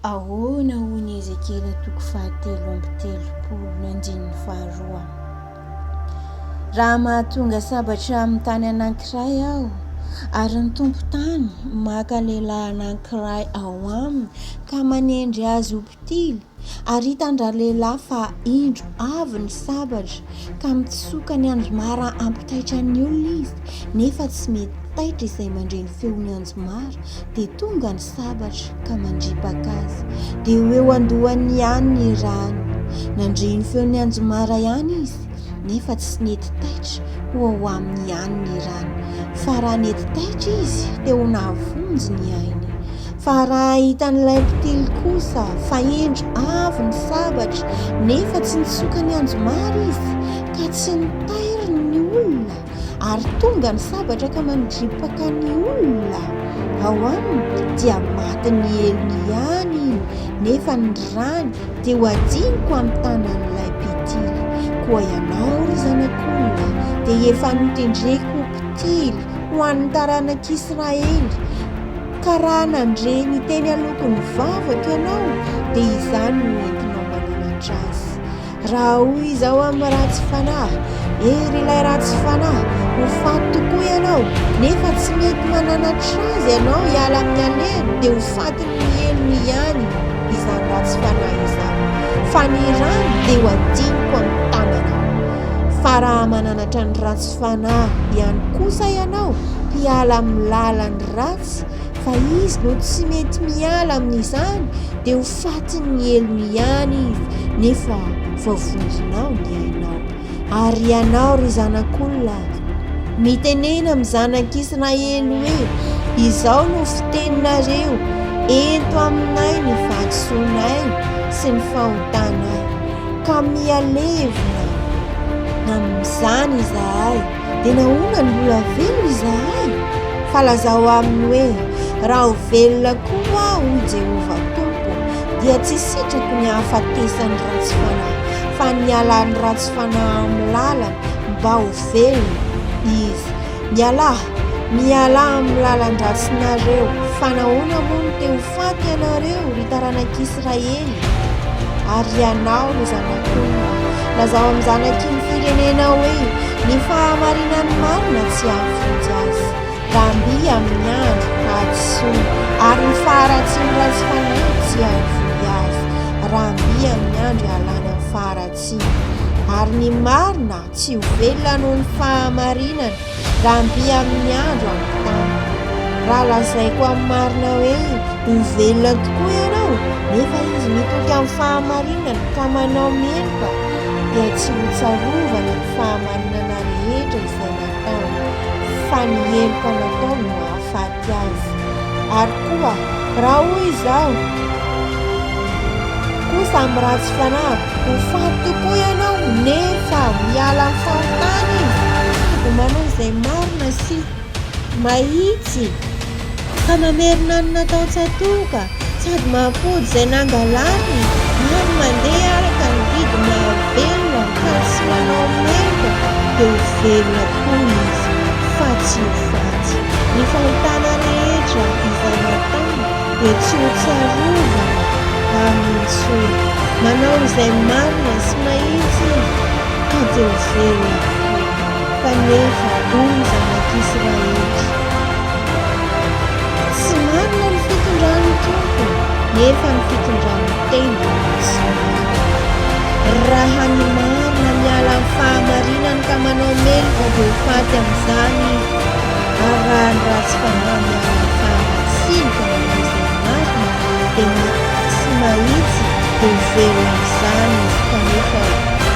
Ahoana hoy i Ezekiela toko fahatelo amby telopolo ny andininy faharoa? Raha mahatonga sabatra amin'ny tany anankiray aho, ary ny tompon-tany maka lehilahy anankiray ao aminy ka manendry azy ho mpitily, ary hitan-dralehilahy fa indro avy ny sabatra, ka mitsoka ny anjomara hampitaitra ny olona izy nefa tsy mety taitra izay mandre ny feon'ny anjomara dia tonga ny sabatra ka mandripaka azy dia ho eo andohany ihany ny rano nandre ny feon'ny anjomara ihany izy nefa tsy nety taitra ho ao aminy ihany ny rano fa raha nety taitra izy dia ho nahavonjy ny ainy Fa raha hitan'ilay mpitily kosa fa indro avy ny sabatra nefa tsy nitsoka ny anjomara izy ka tsy nitairiny ny olona ary tonga ny sabatra ka mandripaka ny olona ao aminy dia matin'ny helony ihany iny nefa ny rany dia ho adiniko amin'ny tanan'ilay mpitily. Koa ianao ry zanak'olona dia efa notendreko ho mpitily ho an'ny taranak'Israely, ka raha nandre ny teny aloko ny vavako ianao dia izany no entinao mananatra azy raha hoy izao amin'ny ratsy fanahy ery ilay ratsy fanahy ho faty tokoa ianao nefa tsy mety mananatra azy ianao hiala amin'ny alehany dia ho faty ny helony ihany izany ratsy fanahy izany fa ny rano dia ho adiniko amin'ny tanana fa raha mananatra ny ratsy fanahy ihany kosa ianao hiala amin'ny lalany ratsy fa izy no tsy mety miala amin'izany dia ho fatin'ny helo ihany izy nefa voavonjinao ny ainao ary ianao ry zanak'olona mitenena amin'ny zanak'israely hoe izao no fiteninareo ento aminay ny fahadisoanay sy ny fahotanay ka mihalevina amin'izany izahay Dia nahoana no mbola velona izahay? Fa lazao aminy hoe, Raha ho velona koa aho, hoy Jehovah Tompo, dia tsy sitrako ny hahafatesan'ny ratsy fanahy, fa ny hialan'ny ratsy fanahy amin'ny lalany, mba ho velona. Iv, Mialà, mialà amin'ny lalan-dratsinareo. Fa nahoana moa no te ho faty ianareo, ry taranak'i Israely, ary hianao no zanak'olona, lazao amin'ny zanaky ny firenena hoe ny fahamarinan'ny marina tsy hahafotsy azy, Ramby amin'ny andro hadisoany, ary ny faharatsian'ny ratsy fanahy tsy hahafoy azy, Ramby amin'ny andro ialany amin'ny faharatsiany, ary ny marina Tsy ho velona noho ny fahamarinana, raha mby amin'ny andro amin'ny tany. Raha lazaiko amin'ny marina hoe ho velona tokoa ianao, nefa izy mitoky amin'ny fahamarinana ka manao meloka, dia tsy ho tsarovany ny fahamarinana rehetra izay nataony, fa ny heloka nataony no hahafaty azy. Diavy. Ary koa raha hoy izaho koa samy ratsy fanahy, ho faty tokoa ianao nefa miala amin'ny fahotana izy, dia manao izay marina sy mahitsy ka mamerina ny nataon-tsatoka. Sady mampody izay nangalariny ary mandeha araka ny didy mahavelona mitady sy manao maimbo dia ho velona koa izy fa tsy ho faty. Ny fahotana rehetra izay nataony dia tsy ho tsarovana Amin intsony. Manao izay marina sy mahitsy izy ka dia ho velona koa. Kanefa, hoy ny zanak'Israely, Tsy marina ny fitondran'ny Tompo, nefa ny fitondran'ny tendrony no tsy marina. Raha ny marina, miala amin'ny fahamarinany ka manao mely vao be ho faty amin'izany izy, ary raha ny ratsy fanahy, miala amin'ny fahamatsiny ka manao izay marina, dia na tsy mahitsy dia ho velona amin'izany izy. Kanefa,